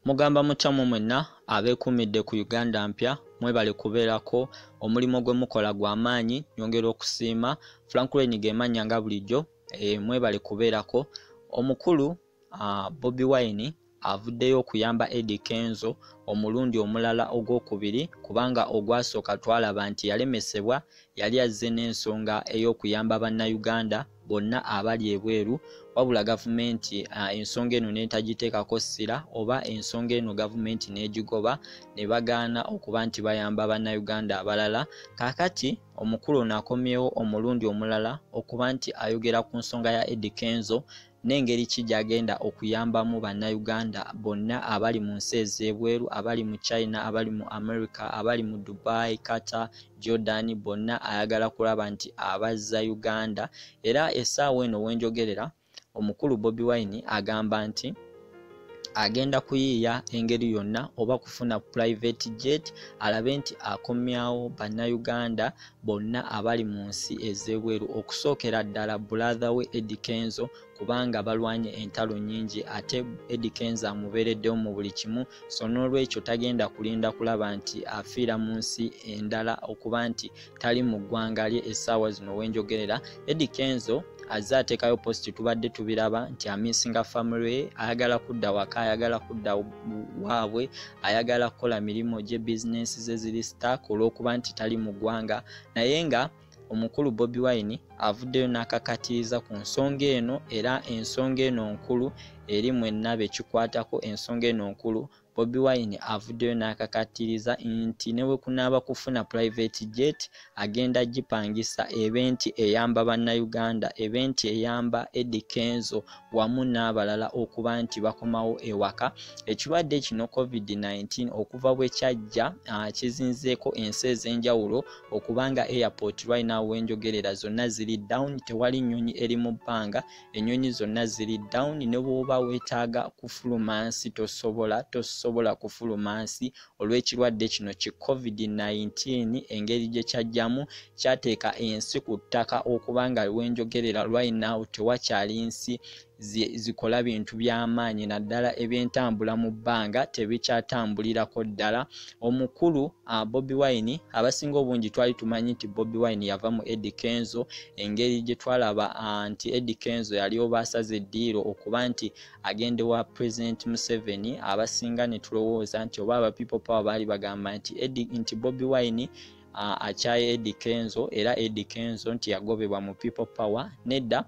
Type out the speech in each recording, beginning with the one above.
mugamba mutya mu mwenna abeekuumidde ku uganda mpya mwebale kubeerako omulimu gwe mukola gwa maanyi nyongera okusiima franklin gemannya nga bulijjo e, mwebale kubeerako omukulu uh, Bobby Wine avuddeyo okuyamba Eddie Kenzo omulundi omulala ogwokubiri kubanga ogwasooka twalaba nti yalemesebwa yali azze n'ensonga ey'okuyamba bannayuganda bonna abali ebweru wabula gavumenti uh, ensonga eno netagiteekako ssira oba ensonga eno gavumenti n'egigoba ne bagaana okuba nti bayamba bannayuganda abalala kakati omukulu ono akomyewo omulundi omulala okuba nti ayogera ku nsonga ya Eddie Kenzo n'engeri ki gy'agenda okuyambamu bannayuganda bonna abali mu nsi ez'ebweru abali mu china abali mu america abali mu dubai kata jordan bonna ayagala kulaba nti abazza uganda era essaawa eno wenjogerera omukulu bobi wine agamba nti agenda kuyiiya engeri yonna oba kufuna private jet alabe nti akomyawo bannayuganda bonna abali mu nsi ez'ebweru okusookera ddala bulaatha we edi kenzo kubanga balwanye entalo nyingi ate edi kenzo amubeereddewo mu buli kimu so n'olwekyo tagenda kulinda kulaba nti afiira mu nsi endala okuba nti tali mu ggwanga lye essaawa zino wenjogerera edi kenzo azze ateekayo posti tubadde tubiraba nti amisinga family ayagala kudda waka ayagala kudda waabwe ayagala kukola mirimu gye bizinesi ze ziri stark olw'okuba nti tali mu ggwanga naye nga omukulu bobi wine avuddeyo n'akakatiiza ku nsonga eno era ensonga eno nkulu eri mwenna bekikwatako ensonga eno nkulu Bobi Wine avuddeyo n'akakattiriza nti ne bwe kunaaba kufuna private jet agenda gipangisa ebe nti eyamba Bannayuganda ebe nti eyamba Eddy Kenzo wamu n'abalala okuba nti bakomawo ewaka. Ekirwadde kino COVID-19 okuva bwe kyajja ah, kizinzeeko ensi ez'enjawulo okuba nga airport right now wenjogerera zonna ziri down tewali nnyonyi eri mu bbanga enyonyi zonna ziri down ne bwoba wetaaga kufuluma nsi tosobola tosobola kufuluma nsi olw'ekirwadde kino ki covid-19 engeri gye kyajjamu kyateeka ensi ku ttaka okuba nga wenjogerera right now tewakyali nsi zikola bintu by'amaanyi naddala ebyentambula mu bbanga tebikyatambulirako ddala omukulu uh, Bobby Wine abasinga obungi twali tumanyi nti Bobby Wine yava mu Eddie Kenzo engeri gye twalaba uh, nti Eddie Kenzo yali oba asaze eddiiro okuba nti agende wa President Museveni abasinga ne tulowooza nti oba aba People Power baali bagamba nti Eddie nti Bobby Wine akyaye Eddie Kenzo era Eddie Kenzo nti yagobebwa mu People Power nedda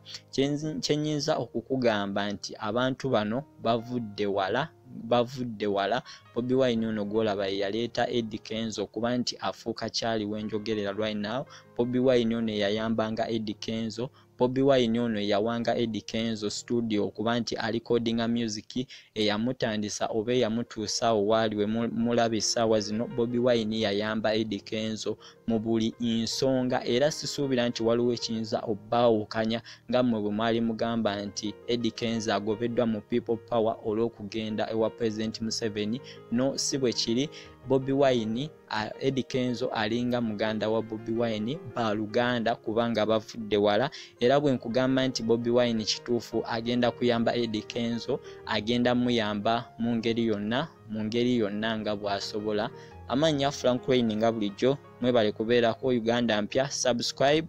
kyenyinza okukugamba nti abantu bano bavudde wala bavudde wala bobi wine ono gwolaba yeyaleeta edi kenzo okuba nti afuuka kyali wenjogerera right now bobi wine ono eyayambanga edi kenzo bobi wine ono eyawanga edi kenzo studio okuba nti alikodinga music eyamutandisa oba eyamutuusaawo waali wemulaba essaawa zino bobi wine yayamba edi kenzo mu buli nsonga era sisuubira nti waliwo ekiyinza obbaawukanya nga mmwe bwe mwali mugamba nti Eddie Kenzo agobeddwa mu People Power olw'okugenda ewa President Museveni no si bwe kiri Bobi Wine Eddie Kenzo alinga muganda wa Bobi Wine ba luganda kubanga bavudde wala era bwe nkugamba nti Bobi Wine kituufu agenda kuyamba Eddie Kenzo agenda muyamba mu ngeri yonna mu ngeri yonna nga bw'asobola amannya frank wayne nga bulijjo mwebale kubeerako uganda mpya subscribe